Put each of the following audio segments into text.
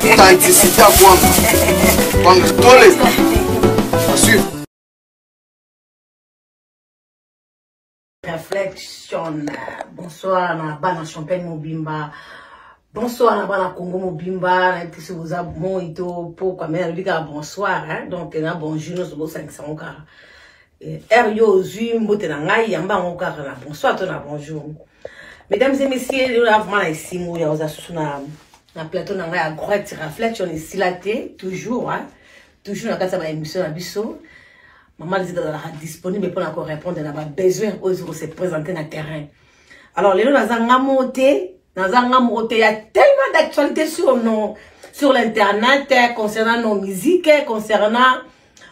Tantisita Kwanga. Kwanga Tole. À suivre. Reflection. Bonsoir na bana champagne mobimba. Bonsoir na bana Congo mobimba. Na episi boza moi to po kwa mena lobi kaka bonsoir hein. Donc na bonjour no sobo sangisa ngo kaka. heure yo ozwi mbote na ngai yamba yango kaka na bonsoir to na bonjour mesdames et messieurs lelo na vraiment na esimbo ya oza susu na na plateau na ngai ya groit reflection esila te toujours hein? toujours na kati ya baémission na biso mama lizita azalaka disponible mpona korépondre na babesoin oyo ezoko se présente na terrain alors lelo naza nga moko te naza nga moko te ya tellement d'actualité sur nos sur l'internet concernant nos musiques concernant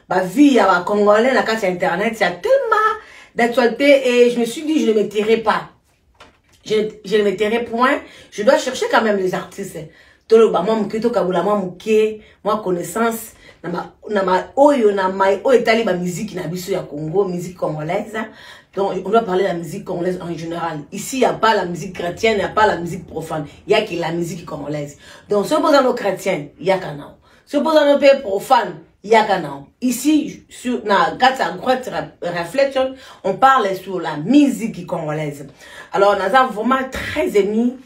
ba vie ya ba congolais na kati ya internet ya tellement d'actualité et je me suis dit je ne me tirerai pas je, je ne me tirerai point je dois chercher quand même les artistes toloba mwa moke tokabola mwa moke mwa connaissance na baoyo na mai oyo etali bamiziki na biso ya congo musique congolaise donc on doit parler de la musique congolaise en général ici il n'y a pas la musique chrétienne il n'y a pas la musique profane il n'y a que la musique congolaise donc soki boza no chrétienne yaka nao soki oza no mpe profane yaka nao ici sur, na kati ya great reflection on parle sur la musique congolaise alors naza vraiment très ému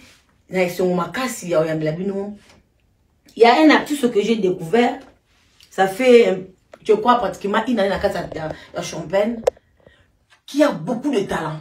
na esengo makasi ya oyambela bino ya un artiste que j'ai découvert ça fait je crois pratiquement une année na kati ya champagne qui a beaucoup de talent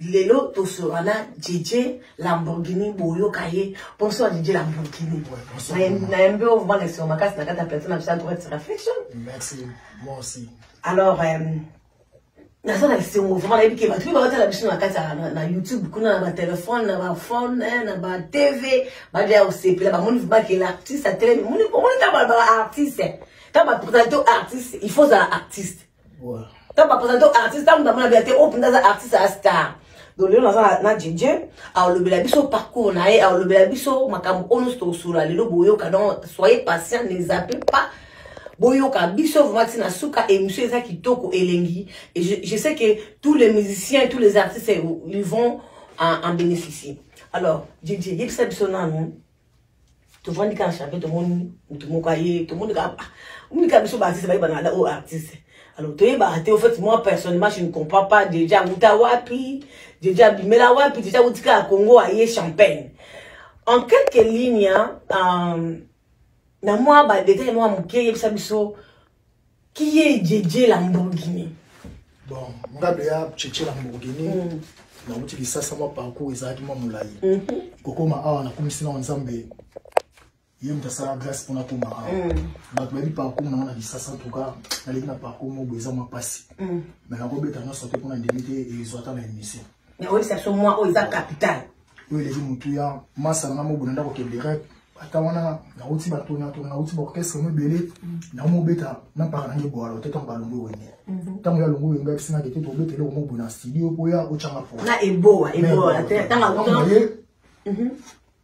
lelo tosolola na djedje lamborghini boyoka ye mposo ya djedje lamborghini nayembi oyo vraimen na esengo makasi na kati ya plateau na biso ya droite reflexion alors euh, naza na esengo vraimen nayebi ke bato mpe baotala biso na kati na youtube kuna na batelefone na baphone eh, na batv badeya kosepela bamoni vraimen ke l'artiste atelemi omoni ta baartiste ta bapresento artiste il faut ozala artiste ntango bapresente o artiste ntango ndamona bia te oyo mpenza aza artiste ya star donc lelo naza na djedje aolobela biso parcours na ye aolobela biso makambo oyo nyonso tokosola lelo boyoka donc soyez patient ne zappe pas boyoka biso vraiment ti na suka émission eza kitoko elengi et je, je sais que tous les musiciens tous les artistes ils vont en, en bénéficier alors djedje yebisa biso nanu tovandi kaka chape tomoni motu moko aye tomoni kaka omoni kaka biso baartiste bayeba na oyo artiste alors toyebaka te au fait moi personnellement je ne comprends pas deja awuta wapi deja abimela wapi deja awuti kaka congo aye champagne en quelques lignes euh, na mwa badetail mwa moke yebisa biso Qui est Djedje Lamborghini Bon, Ngabe ya Djedje Lamborghini. Mm. nauti lisasa mwa parcours ezalaki mwa molai mhm. kokoma awa nakumisi nao nzambe ye moto asala grâce mpona koma awa mm. bato bayebi parcours nango na lisasa ntuka naleki na parcours moko eza mwa mpasi mm. mai nakobeta nyonso te mpona ndimi te ezwata na émission Mais oui, ça sont moi, oh, ils ont capital. Oui, les Moutuya, Massa, Namo, Boulanda, Koké, Direct. ata wana nauti batonatona nauti baorchestre mo ebele naomobeta na mpaka nange bwalo te ntango balongo wenge ntango mhm. ya longo wenge ayebisi nake te tobeta eloko mo boye na studio mpo ya otyanga poye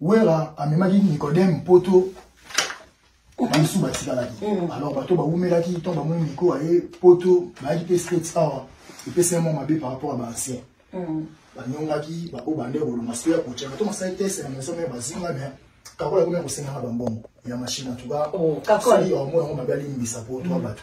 Wera amemaki Nicodème poto bamisu batikalaki mm. alors bato bawumelaki ntango bamoni miko aye poto bayaki mpe states awa epesi yango mabe par rapport ya baancien mm. banyongaki baoyo bande kolonga soki ya kotyaka to masali tese na maison mare bazinga me kakola ekomi ya kosengaka bambongo ya mashine antuka oh, sali omona yango mabe alimbisa mpo twa mm. bato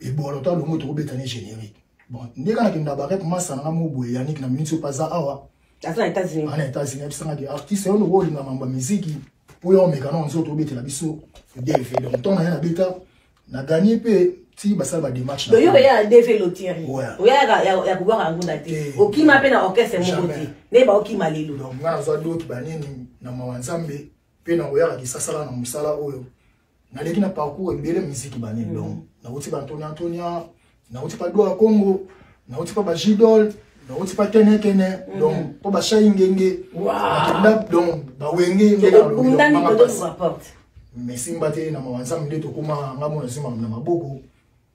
ebola to alongo tokobeta ne générique bon nde kaka nakenda barek masa nanga mo boye yanik na minso mpe aza awa aza na états-unis ana états-unis abisangaki artiste yo noko olinga mambo ya miziki mpo yo omeka na nzoto obetela biso dv donc ntongo naye nabeta na gagné mpe ti basala badémarche yo oya na dv lotieri oyaka ya kobwaka yango na te eh, okima mpe na orchestre moko te nde baokima lelo donc nga nazwa doki banini na mawa nzambe mpe nakoyaka kisasala na mosala oyo naleki na parcours ebele miziki bane mm. donc nauti ba antonia antonia nauti pa dua congo nauti pa bajidol nauti pa kenekene mm. donc mpo bashai ngenge bakenda donc bawenge ngenaabapasi mesimba te na mawa nzambe nde tokóma nga mona zima na maboko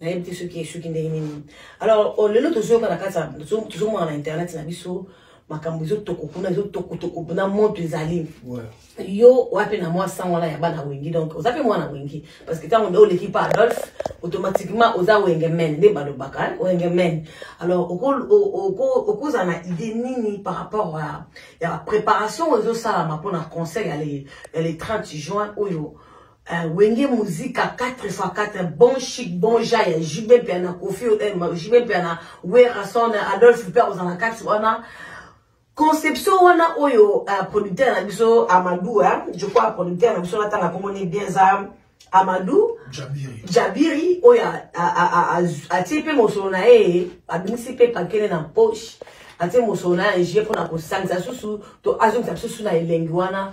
nayebi te soki esuki ndenge nini alors oh, lelo tozoyoka na kati tozomona na internet na biso makambo ezotoko kuna ezotokotoko na moto ezali yo wapi na mwa sango wana ya bana wengi donc oza mpe mwana wengi parce que ntango nde oleki pa adolphe automatiquement oza wenge men nde balobaka wenge men alors okozala na idée nini par rapport ya préparation oyo ezosalama mpona conseil ya le 30 juin oyo Uh, wenge muzika 4 fois 4 bon chic bon ja ya jb mpe na kofi eh, jb mpe na werason adolphe mpe akozala na kati wana conception wana oyo uh, producteur na biso amadou eh? je crois producteur na biso natanga komoni bien za amadou jabiri, jabiri oyo atie mpe mosolo na ye abimisi mpe pakele na poche atie mosolo na ye je mpona kosangisa susu to azongisa susu na elengi wana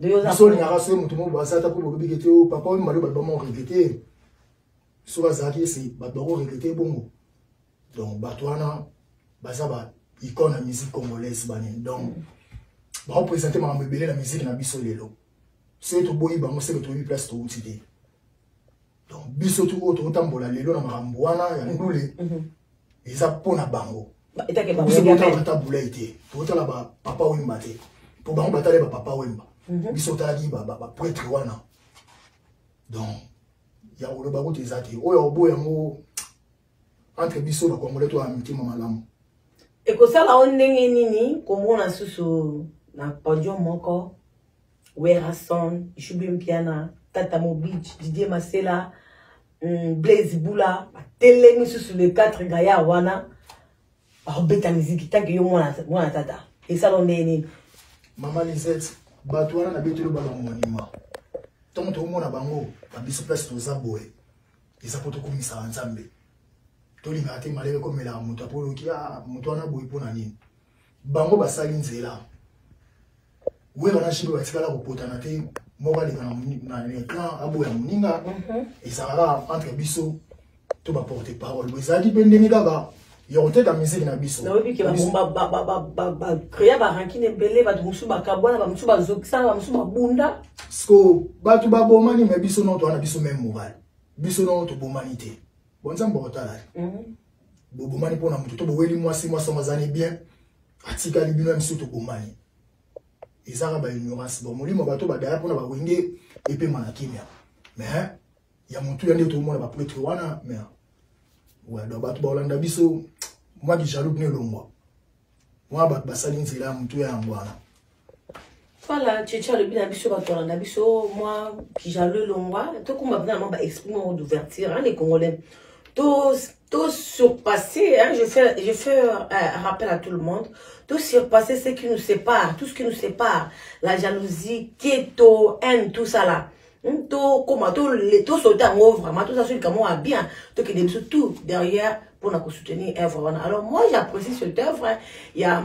biso olingaka soki moto moko bazata mpo bolobi kete o oh, papa oyo maloba bama oregrete soki azalaki ese bato bako regrete bongo donc bato wana baza ba icone ya musique congolaise banini donc baopresente makambo ebele na miziki na biso lelo soki toboyi bango seke toyebi place touti te donc biso tu oyo tokotambola lelo na makambo wana ya ndule mhm. eza mpo na bango biso totala ata bulai te totala bapapa wemba te mpo bango batali bapapa wemba mhm. biso otalaki bapretre wana donc ya koloba kutu eza te oyo oboya yango entre biso bakongole to ya mitema malamu ekosala o ndenge nini komona susu na podium moko Werrason, Ishubi Mpiana, Tata Mobich, Didier Masela, hum, Blaise Bula, batelemi susu le 4 gaya wana bakobeta miziki tanke yo mwana mwana tata esala ndenge nini mama lisette bato wana nabeteli ba bamonima ntango tokomona bango na biso place toza boye eza mpo tokumisaka nzambe tolingaka te malele komelaka moto apo oyoki ah, moto wana boye mpo na nini bango basali nzela wera na shebe batikala kopotana te moko aleka na lecran aboya moninga mhm. ezalaka entre biso to baporte parole bo ezalaki mpe ndenge kaka ya koteka miziki na biso bacrea barankine ebele bato mosusu bakabwana bamosusu bazokisana bamosusu babunda siko bato babomani me biso no towana biso meme moral biso no tobomani te bonzambe otalali mhm. bobomani mpo na moto to boweli mwasi mwasi yango azali bien atikali bino ya biso tokomani ezaka ba ignorance bon molimo bato badaya mpona bawenge epema na kimia mais ya motu ya nde tomona bapretre wana mais wado bato baolanda biso mwa kijaloux bino elongwa mwa bato basali nzela ya motu ya yango wana Voilà, Tchétché alobi na biso bato balanda biso mwa kijalo elongwa tokumba mpena na mwa baexprime moko d'ouverture hein, les congolais to to surpassé hein, je fais, je fais euh, rappel à tout le monde to surpassé ce qui nous sépare tout ce qui nous sépare la jalousie keto haine tout ça là hmm, tokoma tosauta yango vraiment toza so likambo ya bien tokende biso tout derrière mpona kosoutenir œuvre wana alors moi j'apprécie cette œuvre ya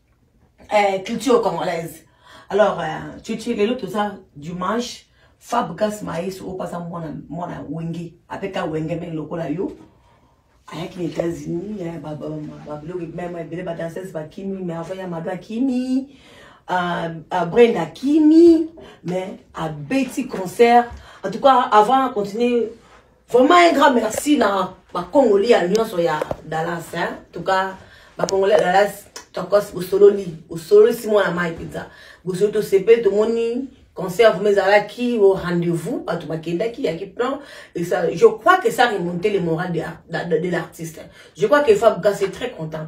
eh, culture congolaise alors euh, cucu lelo toza dimanche fab gas maïs oyo baza mwana mwana wenge apeka wenge menge lokola yo ayaki na états-unis babiloko meme ebele badanseuse bakimi mais avant ya mado akimi euh, euh, brend akimi mais abeti concert en tout cas avant continue Vraiment un grand merci na ba Congolais ya nyonso ya Dallas hein. En tout cas ba Congolais ya Dallas tokos bosololi bosololi si mwana mai mpenza bosololi tosepeli tomoni concert vous ezalaki au rendez-vous bato bakendaki yaki plan et ça je crois que ça remonte le moral de, de, de l'artiste je crois que Fab Gas est très content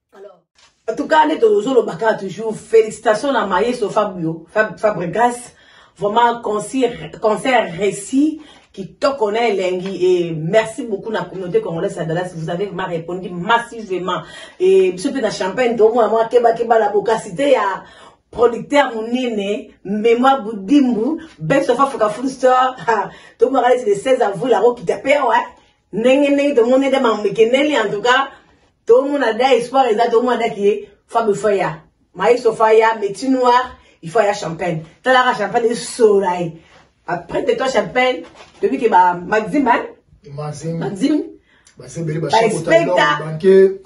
Alors, en tout cas, ndeto ozoloba kaka toujours félicitations na maestro Fabio Fab, Fabregas vraiment concert, concert réussi kitoko na elengi et merci beaucoup na communauté congolaise ya Dallas vous avez vraiment répondu massivement et biso mpe na champagne tokomona mwa kebakeba la bokasite ya producteur monene mémoire budimbu best of africa full star tokomaka neti le 16 avril akokita mpe awa ndenge ndenge tomoni ete mamikendeli en tout cas tomona da espoir eza tomona daki ye fabe faya maestro faya métier noir il faut aya champagne talaka champagne esola ye après de toi champagne toyebi ke ba maxime maxime baexpecta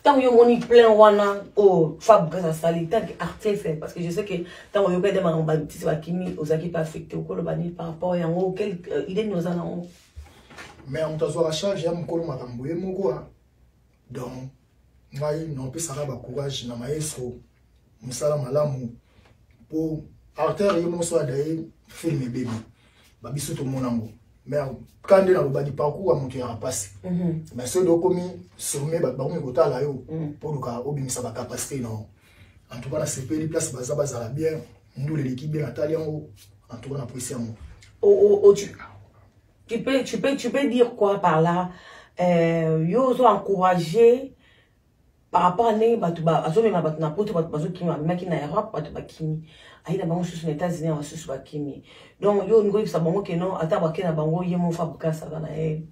ntango yo omoni plein wana oyo oh, fabrigas asali ntanke artiste parce que je sais que ntango oyoka ede makambo batisi bakimi ozalaki mpe affecte okoloba nini par rapport yango quel euh, idée nini oza nango mais moto azwaka charge ya mokolo makambo ye moko a donc ngai naopesaka bacourage na maestro mosala malamu mpo artere ye moso adaye film ebebi ba biso tomona ngo mais ka nde nalobaki parcours ya moto ya rapasi mhm. mais soki okomi sommet bato bakomi kotala yo mpo mhm. luka obimisa bacapacité na yo en tout cas nasepeli place baza bazala bien ndule eleki bien natali yango en tout cas napwesi yango oh, oh, oh, tu peux, tu peux, tu peux dire quoi par là euh, yo ozo encourager par rapport à ndenge bato azomema bato na poto bato bazokima amemaki na europe bato bakimi aye na bango susu na états-unis ya basusu bakimi donc yo olingi oyebisa bango ke non ata bake na bango ye mofa bukasa aza na ye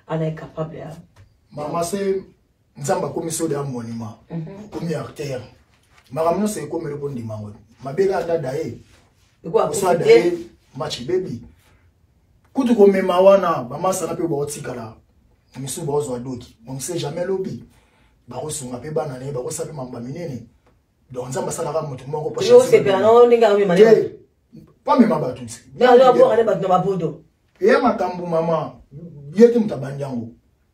ana ye capable ya mama se nzambe akomi soda ya monument mhm. okomi artère makambo nyonso ekomeli kondima yango mabele adada ye oso ada ye match baby kutu komema wana bamasana mpe baotikala misusu baozwa doki on sait jamais lobi bakosunga mpe bana na ye bakosala mpe mambo minene donc nzambe asalaka moto moko pamema bato eya makambo mama ye te moto abandi yango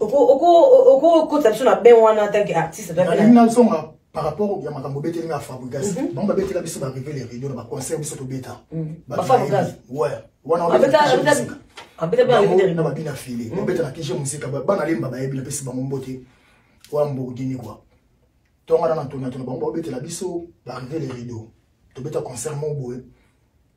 okokotisa biso na ben wana ntanke artiste nazonga par rapport ya makambo obeteli nga fabrigas mhm. bango babetela biso barive le rido na baconcert biso tobeta mhm. na babina file mhm. babeta na kije mosika bana lemba bayebi napesi bango mbote oya mbourdini kua tongana na ntona tona bango babetela biso barive le rido tobeta concert moko boye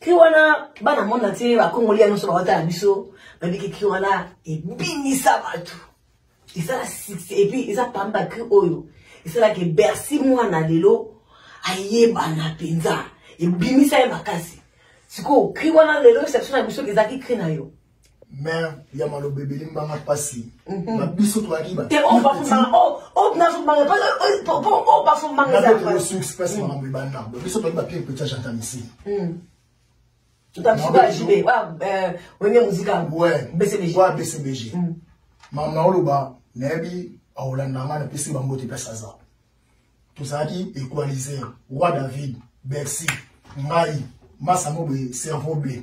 cri wana bana monde entier bakongoli ya nyonso bawatala biso babiki cri wana ebinisa bato esala succès epuis eza pamba cri oyo esalaka ebersi mwana lelo ayebana mpenza ebimisa ye makasi sikoyo cri wana lelo exception na biso ezalaki cri na yo mère ya maloba ebele mbanga mpasi mhm. na biso toyaki batosuki mpasi makambo ebanda biso toyaki bapire petit agenta misili bcbg mama oloba nayebi akolanda ngai napesi bango te mpasi aza tozalaki equaliser roi david bercy ngai masamo boye cerveau ble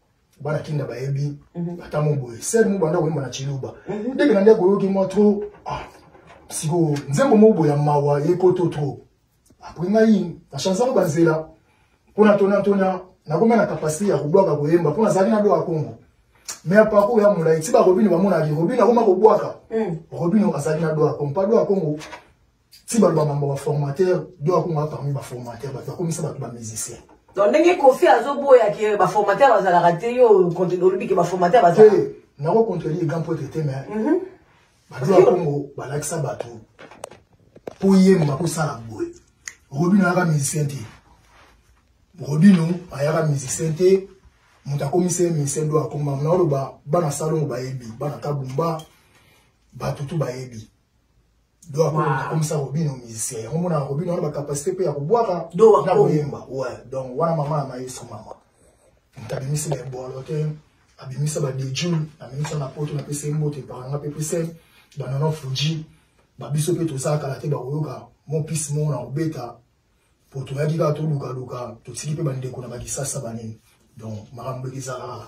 bana kinda bayebi mhm. ata mo boye sel mo banda koyemba na chiluba mhm. ndenge na nde koyoki mwa tro ah, sikoyo nzembo mo boye ya mawa yekoto tro apres ngai na chanse yango banzela mpo na tonatona nakomi na kapasite ya kobwaka koyemba mpo nazalaki na doka kongo me ya parcours ya molai ti barobino bamonaki robino akoma kobwaka mm. robino azalaki na doka kongo mpa doka kongo ti baloba mambo ba formateur do akonga parmi ba formateur bato bakomisa bato ba musicien donc ndenge kofi azoboya ke ba formateur bazalaka te yo olobi ke ba formateur bazalaka eh, nako contredire grand pote te mais mhm. bato ya kongo balakisa bato mpo yemba kosala boye robino ayaka musicien te robino ayaka musicien te moto akomisa ye musicien do akoma mona oloba bana salongo bayebi bana kabumba bato tu bayebi do akomisa robino musicien yango mona robino wana bacapacité mpe ya kobwaka na koyemba we donc wana mama ya mayesu mama moto abimisi na ebolo te abimisa badejul abimisa na poto napesa ye mbote epakanga mpe pese banana fuji babiso mpe tozala kala te bakoyoka mopisi moko na kobeta mpo toyaki kaka tolukaluka totiki mpe bandeko na bakisasa banini donc makambo ekizalaka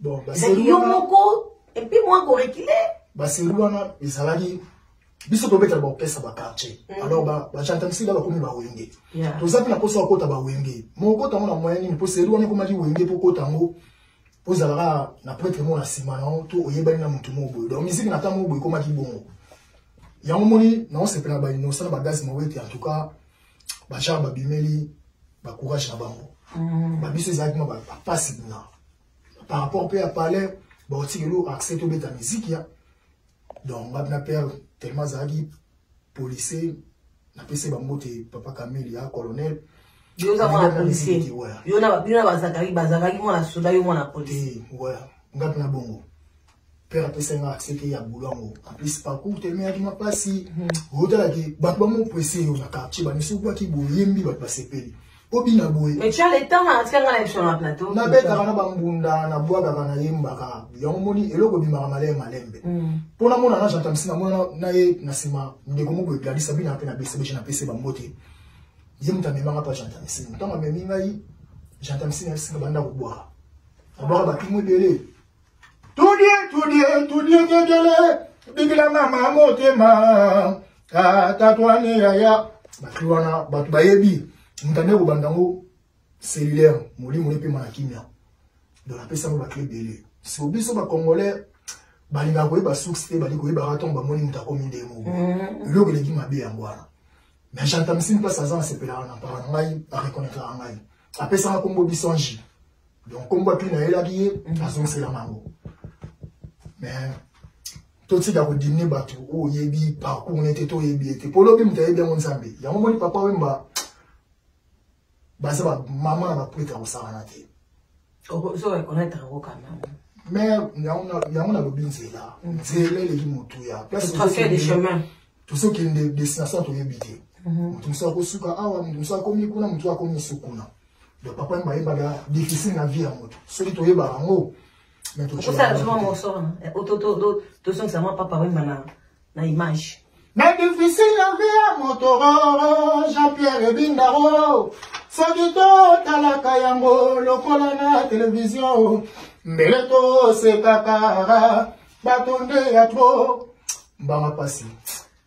bon baseri yo moko et puis moi ko reculer baseri wana ezalaki biso tobetela baopesa baquartier mm. alors bachantamisi ba, ba, bakomi bawenge yeah. toza mpe na mposa ya kota bawenge mokota yango na moyen nini mpo seri wana ekomaki wenge mpo kota yango ozalaka na pretre moko na nsima na yo to oyebani na motu moko boye donc miziki na ntango moko boye ekomaki bongo yango moni naosepela bainosa na bagaz mawete en tout cas bachar babimeli bacourage na bango mm. babiso ezalaki ma bapasi na par rapport mpe ya palais baotikelo accès tobeta miziki ya donc nga na père tellement azalaki policier napesi bango te papa kameli ya colonel yo oza mwana policier yo na bazakaki bazakaki mwana soda yo mwana policier nga mpe na bongo père apesa nga accès te ya boulot yango en plus parcours tellement yaki mwa mpasi otalaki hmm. bato bamopresse yo na quartier bamisi okwaki boyembi bato basepeli obina boye nabetaka na bambunda nabwakaka nayembaka yango moni eloko ebimaka maleye malembe mpo hmm. namona na jantamisi namona na ye na nsima ndeko moko egladisa binaka mpe na besebeje na pese bango te ye moto amemaka mpa jantamisi ntango amemi ngai jantamisi na esinga banda kobwaka abwaka bapimo ebele tudie tudie tudie kekele bikila mama motema tatwani yaya bato wana bato bayebi mutane kobanda yango cellulaire molimo epema na kimia donc apesa yango bato ebele siko biso bacongolais balingaka koyeba source te bali koyebaka ntango bamoni moto akomi ndenge moko mm-hmm. eloko eleki mabe yango wana mais jantamisi mpasi aza nasepelaka na mpaka na ngai areconnaitraka ngai apesaka nkombo bisangi donc kombo api nayelaki ye azongisela mango mais totika kodimine bato oyo oyebi parcours ne te to oyebi ye te mpo lobi moto ayebi yango nzambe yango moni papa wemba baza bamama na baprete ya kosakana te mais yango nalobi nzela mm. nzela eleki motuya tosi okende destination toyebi te moto mosusu akosuka awa moto mosusu akomi kuna moto akomi mosusu kuna donc papa yemba ayebaka difficile na vie ya moto soki toyebaka yango okosala soma moso wana tozongisa mwa papa wemba na image na difficile na vie ya moto jean pierre ebindaro soki totalaka yango lokola na televizio mbele tosekaka bato nde ya tro mbanga mpasi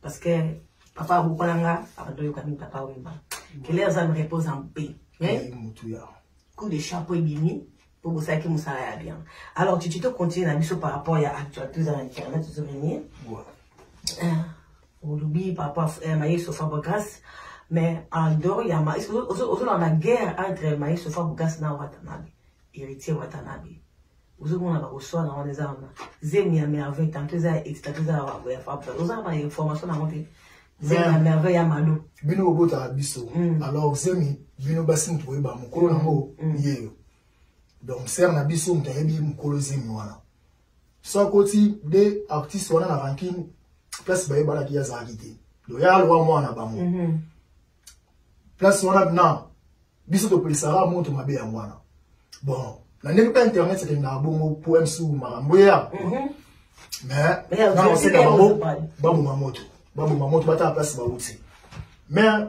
Parce que papa abokola nga abanda oyoka mingi papa oyeba kele aza me repose en paix mais coup de chapeau ebimi mpo bosalaki mosala ya bien alors titi tocontinue na biso par rapport ya actualité eza na internet ozo venir euh, olobi par rapport euh, mayeso fabre grace mais en dehors ya ozolanda guerre entre mayeso fabre grace na watanabe héritier watanabe ozomona bakoswana wana eza wana zemi ya merveille tanto eza ya extra to eza ya fabra oza na information na yango te zemi ya merveille ya malo bino bobotaka biso mm. alors zemi bino basi moto boyeba mokolo yango mm. mm. yeyo donc sere na biso moto ayebi mokolo zemi wana so akoti de artiste wana na ranking place bayebanaki azalaki te loya alwa mwana bango mm -hmm. place wana na biso topelisaka moto mabe yango wana bon na ndenge mpe internet ekendaka bongo po msu makambo eya mhm. mais na oseka bango baboma moto baboma moto batala place bauti mais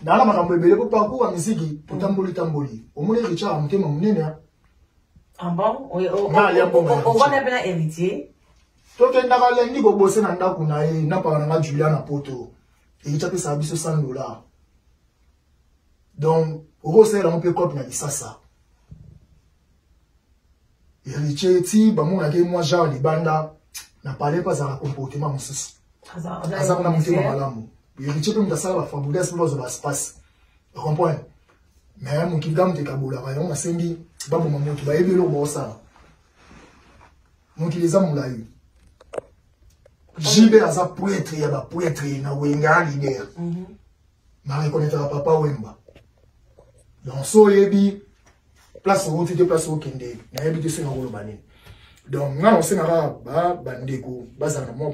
naala makambo ebele po parcours ya miziki totamboli tamboli omoni richard ya motema monene ah ovanda mpe na héritier tokendaka lendi kobose na ndako na ye napaka na nga julia na poto ekici apesaka biso 100 dollar donc okosalela yango mpe cope na lisasa héritier ti bamonaki mwa genre libanda na palais mpe azalaka comportement mosusu aza kuna motema malamu héritier mpe moto asala bafabrigas mpe bazwa baspace ocomprendre mais mokili ga moto ekabolaka yango nasengi baboma moto bayebi eloko baosala mokili eza molai jibe aza pretre ya bapretre na wenga lider mhm. na reconnaîtraka papa wemba donc so oyebi place owuti te place okende nayebi te soki nakoloba nini donc nga nasenga kaka bandeko bazala na mwa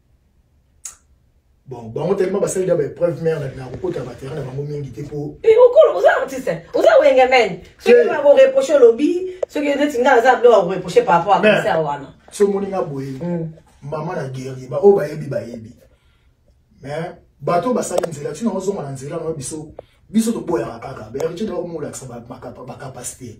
bon bango tellement basali da baépreuve mare na kokota baterrain na bango mingi te po eh, okolo oza artiste oza wenge mene soki bakoreproche olobi soki neti nga aza biloko ya koreproche par rapport a concert wana so omoni nga boye hmm. mama na guerrier baoyo bayebi bayebi mais bato oyo basali nzela ntina ozonga na nzela na biso biso toboyaka kaka berge nde bakomolakisa bacapacité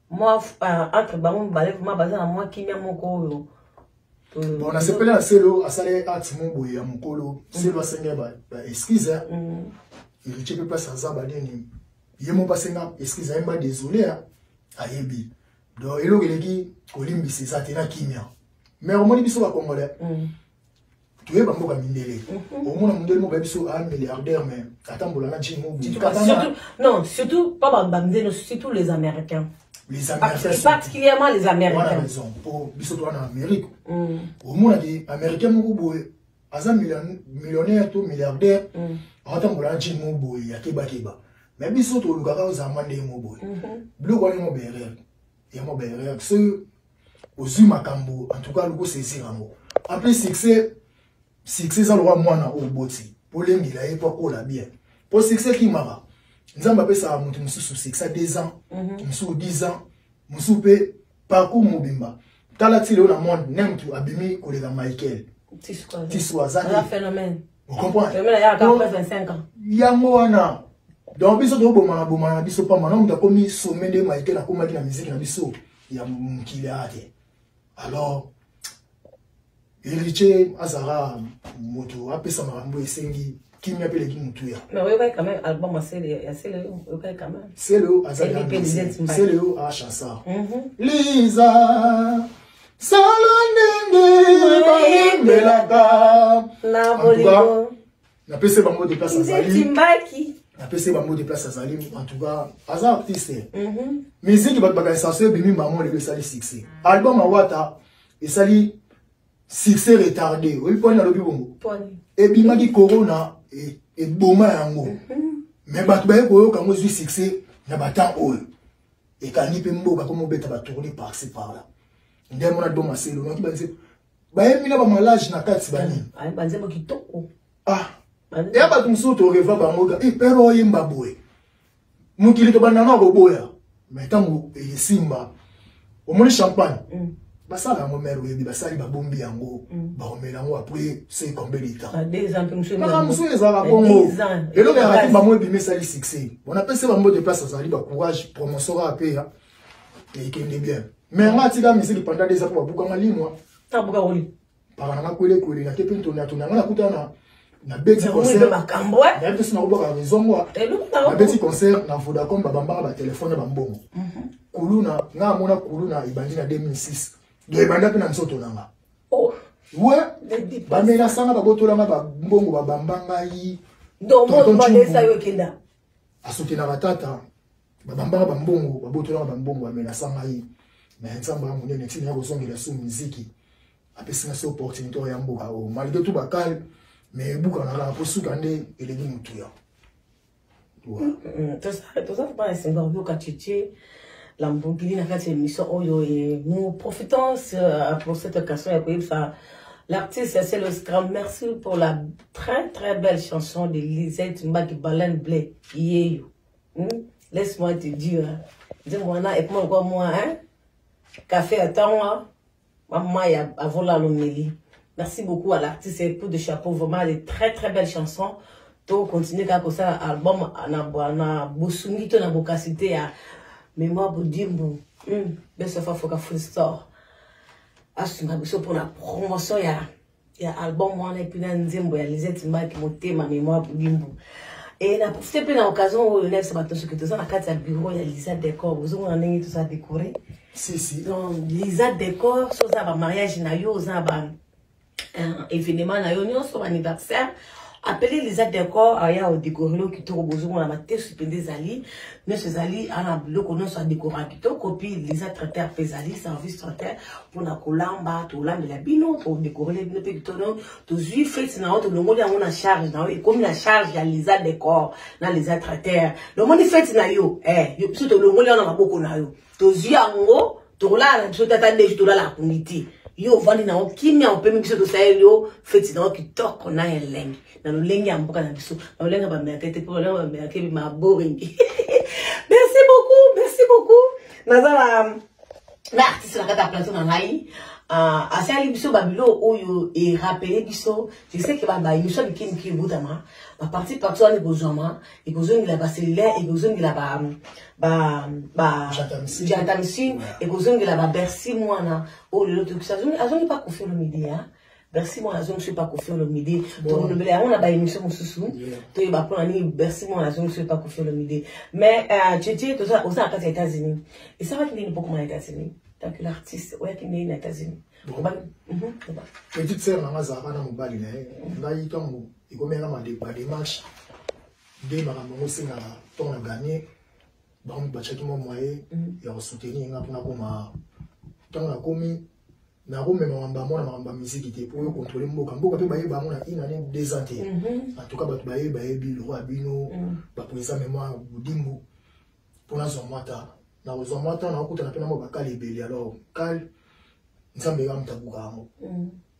mwa uh, entre bango mibale vraimen baza na mwa kimia moko oyo bon nasepeli na selo asalaki acte mo boye ya mokolo selo mm. asengeli baexcuse ba mm. héritier mpe place aza banini ye moko asenga excuse ayemba désolé ayebi donc eloko eleki kolimbisa eza te na kimia mais omoni biso bakongolais mm. toyeba mboka mindele mhm. omona mondele moko bayebi so a ah, milliardaire mais atambola na jimo non surtout pas bamindele surtout les américains les américains particulièrement les américains wana raison mpo biso towana na amérique mm. omonaki américain moko boye aza millionnaire to milliardaire mm. atambola na jimo boye ya kebakeba mais biso tolukaka ozama ndenge mo boye mhm. biloko wana ngo berere yango ba erreur soki ozwi makambo en tout cas loko saisir yango en plus succès succès eza lokola mwana oyo oboti polengela ye mpo akola bien mpo succès kimaka nzambe apesaka moto mosusu succès 2 ans mhm. mosusu 10 ans mosusu mpe parcours mobimba tala ti lelo na monde nemtu abimi koleka michael tiswa aza yango wana donc biso tobomana bomana na biso pamba na moto akomi some nde maike nakomaki na miziki na biso ya mokili aya te alors héritier azalaka moto apesa makambo esengi kimia mpe eleki motuya seleo azaliseleo achansar liza sala ndenge bayembelaka na bolingo napesi bango de place azali napesi bango de place azali en tout cas aza artiste mhm. miziki bato bakanisa so ebimi mamo lelo esali succès album awata esali succès retardé oyebi poni nalobi bongo ebimaki corona e, eboma yango mhm. mais bato baye koyoka yango ezwi succès na batemp oyo ekangi mpe mboka mpo mobeta batourne parci par là nde mona do maselo noki banze bayembi na bamalage na kati banini ah, banzembo kitoko ah ya bato mosusu toreva bango ka ipere eh, oyemba boye mokili tobanda na koboya mai ntango esimba omoni champagne mm. basala yango mare oyebi basali babombi yango mm. baomela yango apres se combien de temps ah, kaka mosusu ezala bongo eloko ya rafi bango ebimi esali succès bona mpe se bambo de place azali bacourage promotion kaka mpe ya ekende bien mais nga atika misiki panda deza mpo babukanga limwa mpaka na nga kwelekwele na te mpe ntondatona nga nakuta na nabeti concertnayebi te sina kobwaka raison ngwa nabeti concert na vodacom babambaka batelefone ya bambongo mhm. kuluna nga amona kuluna ebandi na 2006 do ebanda mpe na nzoto na nga oh. we bamelasanga babotolanga bambongo babamba ngai asokelaka tata babambaka bambongo babotolaka bambongo bamenasanga ye me nzambe ya monene ntina ya kozongela su miziki apesi na se opportunité oyo ya mboka oyo oh, malgré tout bakale me ebukana kaka mpo suka nde eleki motuya mm, mm, mm. toza kuba na esenga koyoka tete lambogili na kati ya émission oyo e nous profitons euh, pour cette occasion ya koyebisa L'artiste, c'est le Scrum. Merci pour la très très belle chanson de Lisette Mbaki Baleine Blé. Yeyo. Hmm? Laisse moi te dire. Hein. Nzembo wana ekoma kwa mwa hein? Café ya ntango mama ya avola alomeli. Merci beaucoup à l'artiste et coup de chapeau vraiment de très très belles chansons. To continuer kaka kosala album na na bosungi to na bokasi te ya mémoire bodimbu. Hmm. Besofa foka full store. Asunga biso pour la promotion ya ya album wana epuis na nzembo ya lisette mbaki motema memoire bulimbu e na profite mpe na occasion oyo nayebisa bato soki toza na kati ya bureau ya lisa decor ozomona ndenge toza décoré donc lisa decor so oza na bamariage na yo oza na ba euh, événement na yo nyonso baanniversaire apeli liza decor aya odekorelo kitoko bozomona matesu mpenza ezali nyonso ezali ana biloko nyonso adekora kitoko mpe liza traiteur mpe ezali service traiteur mpona kolamba tolambela bino todekorele bino mpe kitoko tozwi feti na yo tolongoli yango na charge na yo ekomi na charge ya liza decor na liza traiteur lomoni feti na yo eh, yo biso tolongoli yango na maboko na yo tozwi yango tokolala na biso tata ndeji tolala akungi te yo ovandi nango kimia opemi biso tosaleli yo feti nango kitoko na elengi na lolenge ya mboka na biso na lolenge ya bamerke te mpo lolenge ya bamerke maboringi merci beaucoup merci beaucoup naza na na artiste na kati ya plateau na ngai ah, asali biso babilo oyo erapele biso je sais ke babayemiswa mikemike ebotama baparti parti wana ekozwama ekozongela bacellulaire ekozongela bajantamsin ekozongela babercy mwana oyo lelo tokisa azongi pa kofi olomide ya bercy mwana azongisi pa kofi olomide tolobela yango na baémission mosusu toyeba mpona nini bercy mwana azongisi pa kofi olomide mais chetie euh, oza na kati ya états-unis esalaki nini mpokoma na états-unis tant que l'artiste oyaki ndenge na états-unis petite sœur nanga azalaka na mobali na ye ngai ntango ekomi yanga ba demarche nde makambo yango esengaka ntongo na gagne bango batiaki mwa moye mm. ya kosoutenir nga mpona koma ntango nakomi nakomema makambo yango na makambo ya miziki te mpo oyo kontrole mboka mboka mpe bayeba yango na une année deux ans te mm-hmm. en tout cas bato bayebi bayebi loko ya bino mm. bapresa memoire budimbu mpo nazwa mwa ta nakozwa mwa ta nakokutana mpe na mwa bakale ebele alors kale nzambe eka moto abuka yango mm.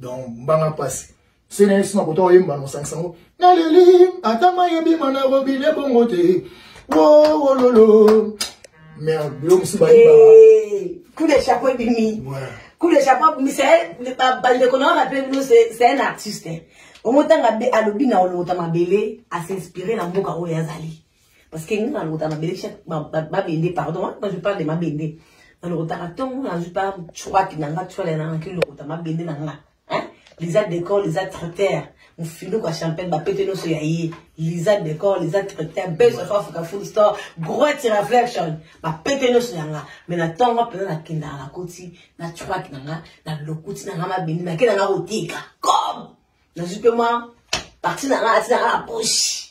donc mbanga mpasi sena ye sina kota oyemba na osangisa yango naleli ata mai ebima na robine bongo te wololo mais bilo mosusu bayebaka kule chapo ebimi kule chapo ebimi bandeko na wana mpe bino c'est un artiste omotanga alobi na olota mabele asinspire na mboka oyo azali Parce que nga lokota na belekisha mabende pardon quand hein, je parle de mabende na lokotaka ntongo nazwi pa chwaki na nga chwale na ngaki lokota mabende na nga hein? liza decor liza traiteur mofinuku ya champagne bapete nyonso ya ye liza decor liza traiteur base of africa food store great reflection bapete nyonso ya nga mai na ntongo mpenza nakendaka nakoti na chwaki na nga na lokuti na nga mabende nake na nga koteka comme nazwi mpe mwa parti na nga ati na nga na poche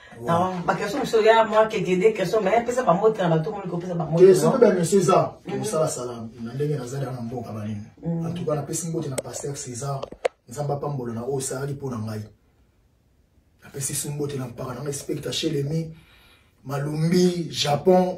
Non, ba question mosusu ya mwa kekede question mais pesa ba mbote na bato omoni kopesa ba mbote soki ba monsieur eza mosala sala na ndenge nazali na mboka banini mm. en tout cas napesi mbote na pasteur césar nzambe apambola na oyo osalaki mpo na ngai napesi su mbote na mpaka na ngai specta chelemi malumbi japon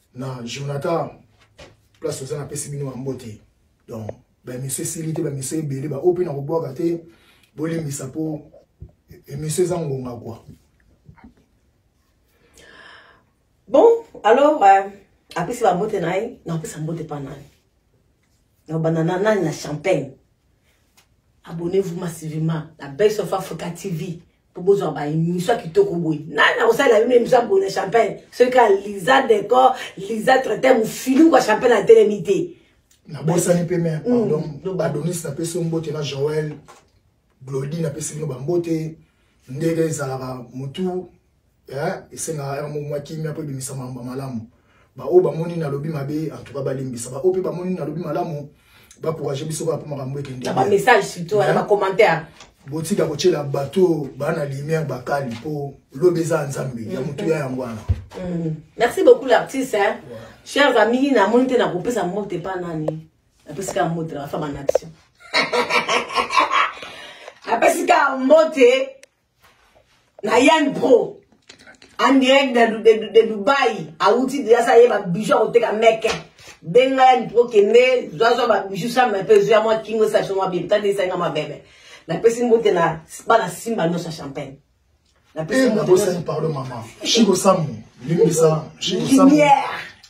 na jonathan place oza napesi bino bambote donc bamiso esili te bamiso ebele baoyo mpe nakobwaka te bolimbisa mpo emission eza ngonga kua bon alors euh, apesi bambote na ye nakopesa mbote mpa nani nakobanda na nani na champagne abonnez-vous massivement la belle sofa africa tv po bozwa ba émission ya kitoko boye nani akosalela bino émission ya boye na champagne soki kaka liza decor liza traite mofili kwa champagne atelemi te nabosani mpe me pardon mm, adonis napesi yo mbote na joel glodi napesi bino bambote ndenge ezalaka motu eh, esengaka yango mwa kimia mpo ebimisa mamba malamu baoyo bamoni nalobi mabe antuka balimbisa baoyo mpe bamoni nalobi malamu bakourage biso kaka mpo makambo ekende bamessage surtout wana bacommentaire botika kotyela bato bana lumière bakali mpo lobi eza ya nzambe ya mm-hmm. motuya yango wana mm-hmm. merci beaucoup l'artiste chers amis namoni te nakopesa mbote epa nani napesi kaka mbote na bafama na biso napesi kaka mbote na yan pro en direct de, de, de, de dubai awuti deja sa ye babiju akoteka meke benga yan pro kende zwazwa babiju same mpe zoya mwa kingo station mwa bebe tande esainga mwa bebe napesi mbote na bana simba nyonso ya champagne napesi eh, mbote nyonso pardon mama shiko samu limbisa shiko samu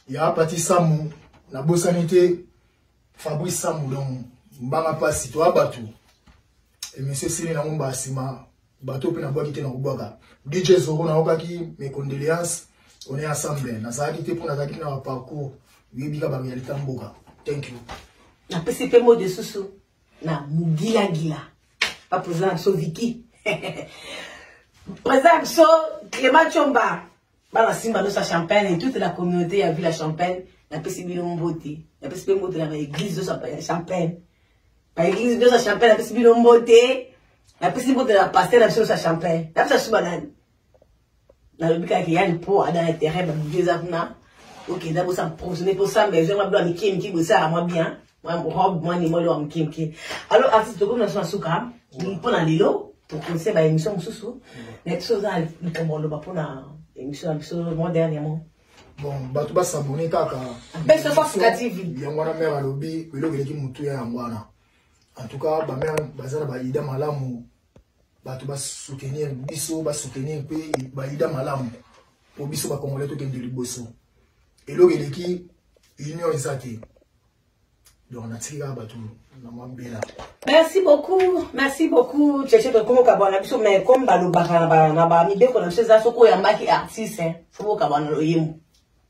ya pati samu nabosani te Fabrice Sambu donc mbanga pasi to abatu et monsieur Sini na ngomba sima bato pe na bwaki te na kobwaka DJ Zoro na okaki mes condoléances on est ensemble na zaki te pona zaki na parcours yebi ka ba réalité mboka thank you na pesi pe mot de susu na mugila gila pa président so Vicky président so Clément Chomba bana simba nosa champagne et toute la communauté ya ville ya champagne napesi bino mbote napesi mpe mbote na baeglise nyonso ya champagne baeglise nyonso ya champagne napesi bino mbote napesi mbote na paster na biso nyonso ya champagne napesa suba nani nalobi kaka ke yani mpo ada na terrain babuki eza kuna okenda bosa provisionne mpo samba ezwanga bilo ya mike mike bosala mwa bien robe mwa nimoli wa moke moke alors artiste tokomi na biso na suka mpo na lelo tokonse ba émission mosusu na biso oza na likambo aloba mpo na émission na biso mwa dernièrement bon bato basabone kaka yango wana mare alobi eloko eleki motuya yango wana en tout cas bamare baza na baida malamu bato basoutenir biso basoutenir mpe baida malamu mpo biso bakongole tokende liboso eloko eleki union eza te donc natiki kaka bato na mwa mbela merci beaucoup merci beaucoup cheche tokomi okabwana na biso mais comme balobaka na bamibeko na biso eza soki oyambaki artiste fo bokabwana loyembo